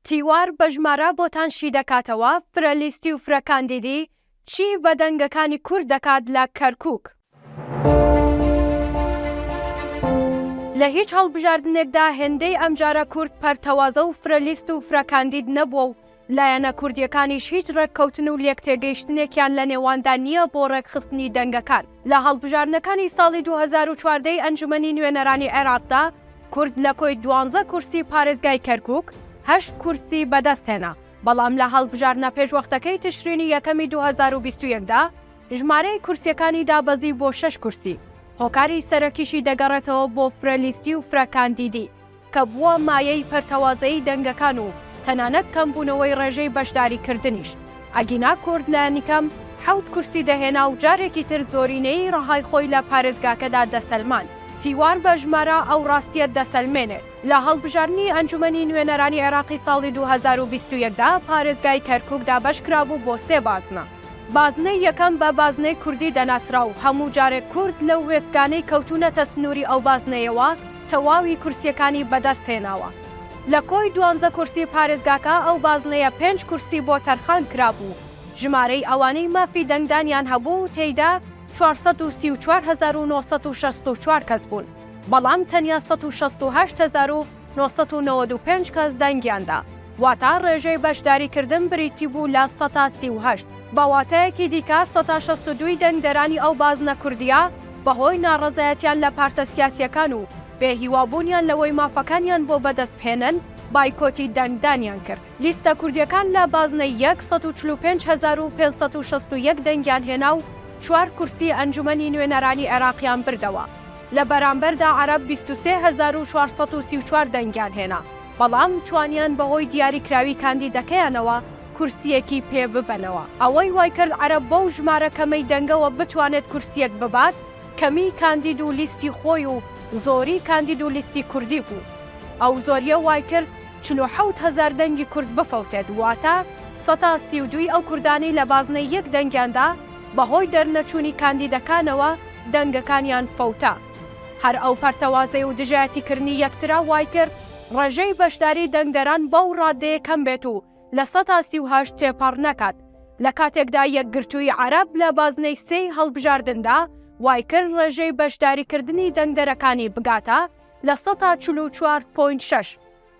تیوار بە ژمارە بۆتان شی دەکاتەوە فرە لیستی و فرە کاندیدی چی بە دەنگەکانی کورد دەکات لە کەرکوک. لە هیچ هەڵبژاردنێکدا هێندەی ئەمجارە کورد پەرتەوازە و فرە لیست و فرە کاندید نەبووە و لایەنە کوردیەکانیش هیچ ڕێککەوتن و لێکتێگەیشتنێکیان لە نێواندا نییە بۆ ڕێکخستنی دەنگەکان. لە هەڵبژاردنەکانی ساڵی دوو هەزار و چواردە ی ئەنجومەنی نوێنەرانی عێراقدا، کورد لە کۆی دوانزە کورسی پارێزگای کەرکووک هەشت کورسی بەدەستهێنا، بەڵام لە هەڵبژاردنە پێشوەختەکەی تشرینی یەکەمی دوو هەزار و بیست و یەک دا، ژمارەی کورسییەکانی دابەزی بۆ شەش کورسی، هۆکاری سەرەکیشی دەگەڕێتەوە بۆ فرە لیستی و فرە کاندیدی. کە بووە مایەی پەرتەوازەیی دەنگەکان و تەنانەت کەمبوونەوەی ڕێژەی بەشداریکردنیش، ئەگینا کورد لانیکەم حەوت کورسی دەهێنا و جارێکی تر زۆرینەیی ڕەهای خۆی لە پارێزگاکەدا دەسەلماند. تیوار بە ژمارە ئەو ڕاستییە دەسەلمێنێت، لە هەڵبژاردنی ئەنجومەنی نوێنەرانی عێراقی ساڵی دوو هەزار و بیست و یەک دا پارێزگای کەرکوک دابەشکرابوو بۆ سێ بازنە، بازنەی یەکەم بە بازنەی کوردی دەناسرا و هەموو جارێک کورد لەو وێستگانەی کەوتوونەتە سنووری ئەو بازنەیەوە، تەواوی کورسیەکانی بەدەست هێناوە لە کۆی دوانزە کورسی پارێزگاکە ئەو بازنەیە پێنج کورسی بۆ تەرخان کرابوو ژمارەی ئەوانەی مافی دەنگدانیان هەبوو تێیدا چوار سەد و سی و چوار هەزار و نۆ سەد و شەست و چوار کەس بوون بەڵام تەنیا سەد و شەست و هەشت هەزار و نۆ سەد و نەوەد و پێنج کەس دەنگیان دا واتا ڕێژەی بەشداری کردن بریتی بوو لە سەتا سی و هەشت. بە واتایەکی دیکە سەتا شەست و دووی دەنگدەرانی ئەو بازنە کوردیە، بەهۆی ناڕەزایەتیان لە پارتە سیاسییەکان و بێ هیوابوونیان لەوەی مافەکانیان بۆ بەدەست بهێنن، بایکۆتی دەنگدانیان کرد. لیستە کوردییەکان لە بازنەی یەک سەد و چل و پێنج هەزار و پێنج سەد و شەست و یەک دەنگیان هێنا و چوار کورسی ئەنجومەنی نوێنەرانی عێراقیان بردەوە. لە بەرامبەردا عەرەب بیست و سێ هەزار و چوار سەد و سی و چوار دەنگیان هێنا، بەڵام توانیان بەهۆی دیاریکراوی کاندیدەکەیانەوە، کورسییەکی پێ ببەنەوە. ئەوەی وایکرد عەرەب بەو ژمارە کەمەی دەنگەوە بتوانێت کورسییەک ببات، کەمیی کاندید و لیستی خۆی و زۆریی کاندید و لیستی کوردی بوو. ئەو زۆرییە وایکرد چل و حەوت هەزار دەنگی کورد بفەوتێت، واتە سەتا سی و دووی ئەو کوردانەی لە بازنەی یەک دەنگیاندا بەهۆی دەرنەچوونی کاندیدەکانەوە دەنگەکانیان فەوتا. هەر ئەو پەرتەوازەی و دژایەتیکردنی یەکترە وایکرد ڕێژەی بەشداریی دەنگدەران بەو ڕاددەیە کەم بێت و لە سەدا سی و هەشت تێپەڕ نەکات، لە کاتێکدا یەکگرتووی عەرەب لە بازنەی سێی هەڵبژاردندا وایکرد ڕێژەی بەشداریکردنی دەنگدەرەکانی بگاتە لە سەدا چل و چوار پۆینت شەش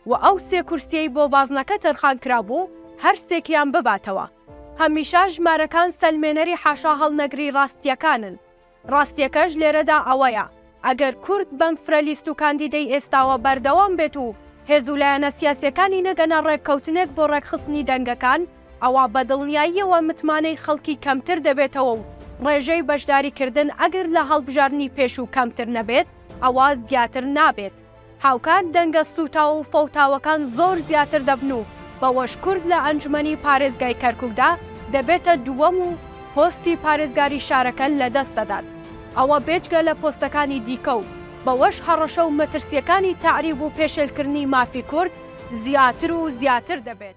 و ئەو سێ کورسیەی بۆ بازنەکە تەرخانکرابوو هەرسێکیان بباتەوە، هەمیشە ژمارەکان سەلمێنەری حاشاهەڵنەگری ڕاستییەکانن. ڕاستیەکەش لێرەدا ئەوەیە ئەگەر کورد بەم فرە لیست و کاندیدەی ئێستاوە بەردەوام بێت و هێز و لایەنە سیاسیەکانی نەگەنە ڕێککەوتنێک بۆ ڕێکخستنی دەنگەکان ئەوا بە دڵنیاییەوە متمانەی خەڵکی کەمتر دەبێتەوە و ڕێژەی بەشداریکردن ئەگەر لە هەڵبژاردنی پێشوو کەمتر نەبێت ئەوا زیاتر نابێت. هاوکات دەنگە سووتاو و فەوتاوەکان زۆر زیاتر دەبن و بەوەش کورد لە ئەنجومەنی پارێزگای کەرکوکدا دەبێتە دووەم و پۆستی پارێزگاری شارەکە لەدەست دەدات ئەوە بێجگە لە پۆستەکانی دیکە و بەوەش هەڕەشە و مەترسیەکانی تەعریب و پێشێلکردنی مافی کورد زیاتر و زیاتر دەبێت.